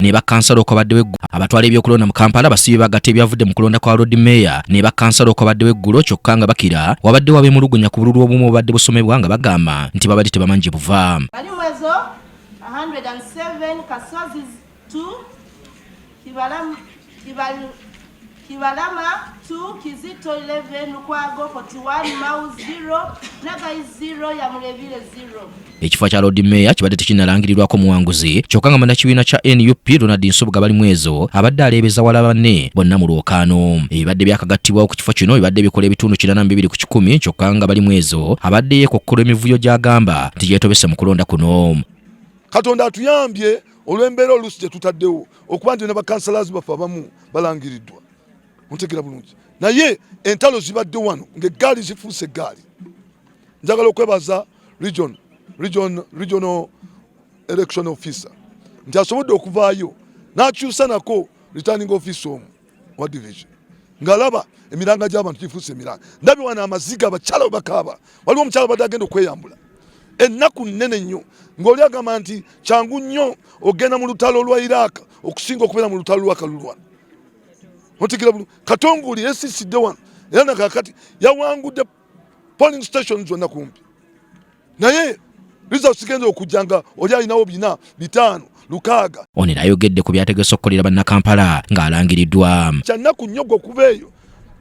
ne bakansala okwabaddewo eggulo abatwala ebyokulonda mu kampala basiibye bagata ebyavudde mu kulonda kwa lord meeya ne bakansala okwabaddewo eggulo kyokka nga bakira wabadde wabemulugunya ku bululu obumu obubadde busomebwa nga bagamba nti babadde tebamanyi gye buva Kibalama 2, Kizito 11, Lukwago 41, Mau 0, Nagai 0, Yamulevile 0. Ekifo kya Lord Mayor kibadde tekinnalangirirwako muwanguzi kyokka nga munnakibiina kya nup Ronald Nsubuga bali mwezo abadde aleebeza wala banne bonna mu lwokaano. Ebibadde byakagattibwawo ku kifo kino bibadde bikola ebitundu kinana mu bibiri ku kikumi kyokka nga bali mwezo abadde yeekokkola emivuyo gy'agamba nti gyetobese mu kulonda kuno. Katonda atuyambye olw'embeera oluusi gye tutaddewo okuba nti nabakansalazi baffe abamu balangiridwa ontegera bulungi naye entalo zibadde wano ngaegaali zifuuse egaali njagala okwebaza region, region, regional election officer nti asobodde okuvaayo nakyusa nako returning office omu wa division ngalaba emiranga gy'abantu gifuuse emiranga ndabi wana amaziga abakyala we bakaaba waliwo omukyala badde agenda okweyambula ennaku nnene nnyo ng'oli agamba nti kyangu nnyo ogenda mu lutalo lwa iraaka okusinga okubeera mu lutalo lwa kalulwa otegera bulu katonguli esisidde wano era nakakati yawangudde polling station zonna kumpi naye liza sigenza okujja nga oli alinawo bina bitaano lukaaga ono era ayogedde ku byategese okukolera bannakampala ng'alangiriddwa kyannaku nnyo gwe okuva eyo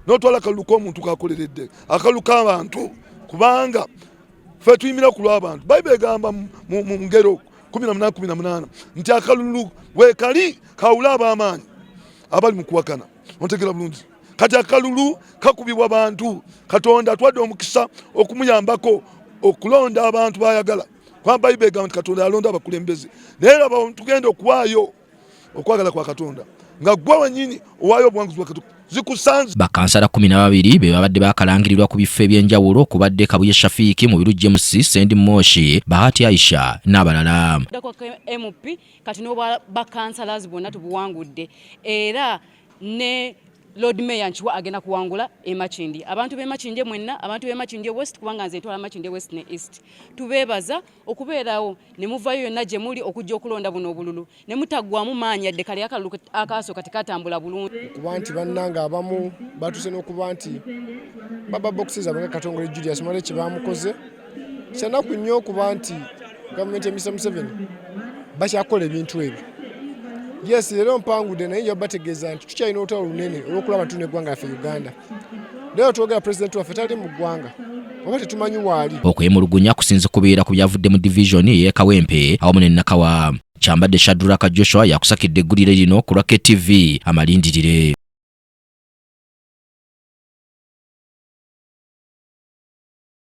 n'otwala akalulu k'omuntu kakoleredde akalulu k'abantu kubanga fe tuyimira ku lw'abantu bayibuli egamba mu ngero kumi na munana kumi na munana nti akalulu weekali kawula ab'amaanyi abali mu kuwakana ontegera bulungi kati akalulu kakubibwa bantu katonda atwadde omukisa okumuyambako okulonda abantu bayagala kuba bayibuli egamba nti katonda yalonda abakulembeze naye laba tugenda okuwaayo okwagala kwa katonda nga gwe wenyini owaayo obuwanguzi bwakatuka zikusanze bakansala kumi na babiri be babadde bakalangirirwa ku bifo eby'enjawulo okubadde kabuye shafiiki mu biru james sendi moshi bahati aisha n'abalala kati n'obwa bakansalazi bwonna tubuwangudde era ne lord mayor nkiwa agenda kuwangula emakindi abantu bemakindye mwenna abantu bemakindye west kubanga nze ntwala makindye west ne east tubeebaza okubeerawo ne muvayo yonna gye muli okujja okulonda buno obululu ne mutaggwamu maanyi yadde kale akalulu akaasooka tekatambula bulungi okuba nti bannanga abamu batuuse n'okuba nti baba bokisi zaabwe nga katongole julius mwale kye baamukoze kyanaku nnyo okuba nti gavumenti ya Mr Museveni bakyakola ebintu ebyo yes leero mpangude naye nja bategeeza nti tukyalina olutalo lunene olwokulaba tuna eggwanga yaffe uganda leero twogera pulezidenti waffe tali mu ggwanga oba tetumanyi waali okwemulugunya kusinze kubeera ku byavudde mu divisioni ey'ekawempe awamu ne nakawa kyambadde shaduraka joshua yakusakidde eggulire lino ku lwa ktv amalindirire